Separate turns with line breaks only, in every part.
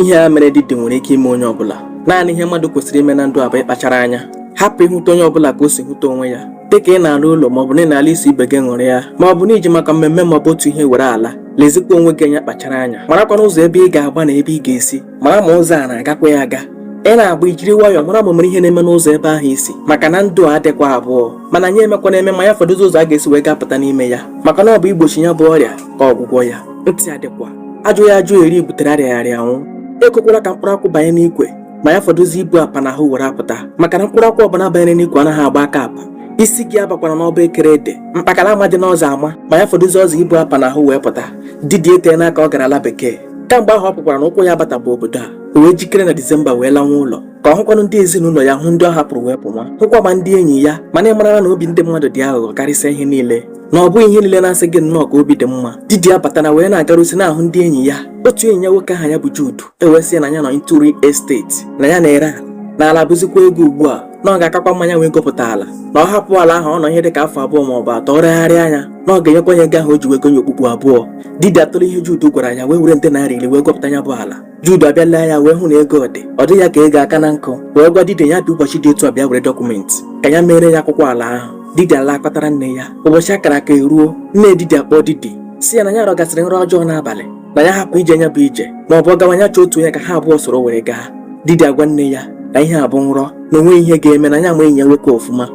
ihe a mere didi nwere ike ime onye ọbụla naanị ihe mmadụ kwesịrị ime na ndụ abụ ịkpachara anya hapụ ịhụta onye ọbụla ka o si hụta onwe ya dịka ị na-ala ụlọ maọbụ na ị na-ala iso ibe gị ṅụrịa maọbụ na i ji maka mmemme maọbụ otu ihe were ala lezikwa onwe gị anya kpachara anya marakwana ụzọ ebe ị ga-agba na ebe ị ga-esi mara ma ụzọ a na-agakwa ya aga ị na-agba ijiri nwayọọ mara ma mere ihe na-eme n'ụzọ ebe ahụ i si maka na ndụ adịkwa abụọ mana anyị emekwa na-eme ma ya fọdụzi ụzọ a ga-esi wee gapụta n'ime ya maka na ọ bụ igbochi ya bụ ọrịa ka ọgwụgwọ ya ntị adịkwa ajụghị ajụ eri butere arịaghị arịa anwụ ekwekwala ka mkpụrụ akwụ banye n'ikwe ma ya fọdụzi ibu apa n'ahụ were apụta maka na mkpụrụ akwụ ọbụla banyere n'ikwe anaghị agba aka apa isi gị abakwara n'ọba ekere ede mkpakara ama dị n'ọzọ ama ma ya fọdụzi ọzọ ibu apa n'ahụ wee pụta didi eteena aka ọ gara ala bekee kamgbe ahụ ọ pụkwara na ụkwụ ya bata bụ obodo a o wee jikere na disemba wee lanwa ụlọ ka ọ hụkwanụ ndị ezinụlọ ya hụ ndị ọ hapụrụ wee pụwa hụkwa ma ndị enyi ya mana ị marala na obi ndị mmadụ dị aghụghọ karịsịa ihe niile na ọ bụghị ihe niile na-asị gị nnọọ ka obi dị mma Didi abatana wee na-agarisi na-ahụ ndị enyi ya otu enyi ya nwoke aha ya bụ Jude ewee sị ya na ya nọ into real estate na ya na-ere ala na ala bụzikwa ego ugbu a na ọ ga-akakwa mma nya wee gopụta ala na ọ hapụ ala ahụ ọ nọ ihe dị ka afọ abụọ ma ọ bụ atọ o regharịa nya na ọ ga-enyekwa ya ego ahụ o ji wee goo ya okpukpu abụọ Didi atụlee ihe Jude gwara ya wee were nde naira iri wee gopụta ya bụ ala Jude abịa lee ya wee hụ na ego dị ọ dị ya ka ego aka na nkụ wee gwa didi ya bịa ụbọchị dị etu a bịa were dọkụmenti ka ya meere ya akwụkwọ ala ahụ didi alaa kpatara nne ya ụbọchị a kara aka eruo nne didi akpọọ didi sị ya na ya rọgasịrị nrọ ọjọọ n'abalị na ya hapụ ije nya bụ ije ma ọ bụ ọ gawa ya chọọ otu onye ka ha abụọ soro were gaa didi agwa nne ya na ihe a bụ nrọ na o nweghị ihe ga-eme na ya ama enyi ya nwoke ọfụma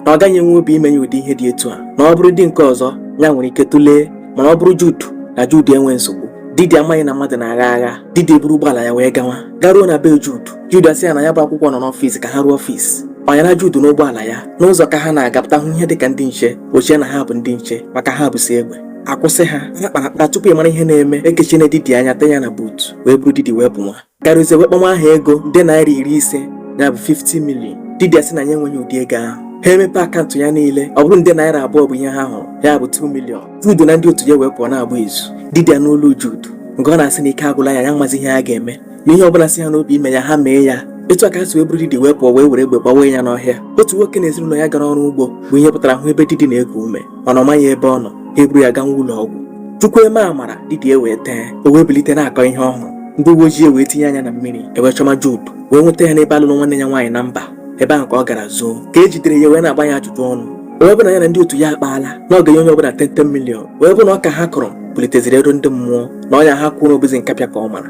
na ọ gaghị enwe obi ime ya ụdị ihe dị etu a na ọ bụrụdị nke ọzọ ya nwere ike tụlee mana ọ bụrụ Jude na Jude enwe nsogbu didi amaghị na mmadụ na-agha agha didi eburu ụgbọala ya wee gawa garuo na be Jude Jude asị ya na ya bụ akwụkwọ nọ n'ọfịs ka ha ruo ọfịs panyere Jude n'ụgbọala ya n'ụzọ ka ha na-agapụta hụ ihe dịka ndị nche o chee na ha bụ ndị nche maka ha busi egbe akwụsị ha ha kparakpara tupu ị mara ihe na-eme ekechiena didi anya tinye na buutu wee buru didi wee pụwa Garuzie wee kpọnwa aha ego nde naira iri ise ya bụ 50 million didi asị na ya enweghị ụdị ego ahụ ha emepe akaụntụ ya niile ọ bụrụ nde naira abụọ bụ ihe ha hụrụ ya bụ 2 million Jude na ndị otu ya wee pụọ na-agba izu didi anụ olu Jude nga ọ na-asị na ike agwụla ya ya amazi ihe ha ga-eme na ihe ọbụla si ha n'obi ime ya ha mee ya etu a ka ha si wee buru didi wee pụọ wee were egbe gbawa ya n'ọhịa otu nwoke na ezinụlọ ya gara ọrụ ugbo bụ ihe pụtara hụ ebe didi na-eku ume mana ọ maghị ebe ọ nọ ha eburu ya gawa ụlọ ọgwụ chukwu eme amara didi ewee tee o wee bilite na-akọ ihe ọ hụrụ ndị uwe ojii wee tinye anya na mmiri ewee chọma Jude wee nweta ya n'ebe a lụrụ nwanne ya nwaanyị na mba ebe ahụ ka ọ gara zoo ka e jidere ya wee na-agba ya ajụjụ ọnụ wee bụ na ya na ndị otu ya akpaala na ọ ga-enye onye ọbụla 10 million wee bụ na ọka ha kụrụ puliteziri ero ndị mmụọ na ọnya ha kwere na ọ bụzi nkapịa ka ọ mara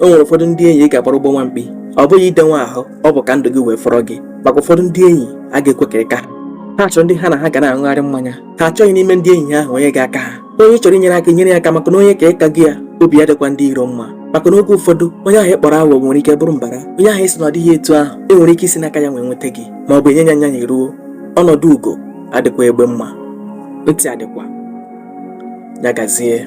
o nwere ụfọdụ ndị enyi ị ga-agbara ụgbọ nwa mkpi ọ bụghị ide nwa ahụ ọ bụ ka ndụ gị wee fọrọ gị maka ụfọdụ ndị enyi agaghị ekwe ka ị ka ha ha chọrọ ndị ha na ha ga na-aṅụgharị mmanya ha achọghị n'ime ndị enyi ha ahụ onye ga-aka ha onye chọrọ inyere aka nyere ya aka maka na onye ka ịka gị ya obi ya adịkwa ndị iro mma maka na oge ụfọdụ onye ahụ ị kpọrọ awọ nwere ike bụrụ mbara onye ahụ ị sị na ọ dịghị etu ahụ e nwere ike isi n'aka ya wee nweta gị ma ọ bụ enye ya anya ya ruo ọnọdụ ugo adịkwa egbe mma ntị adịkwa ya gazie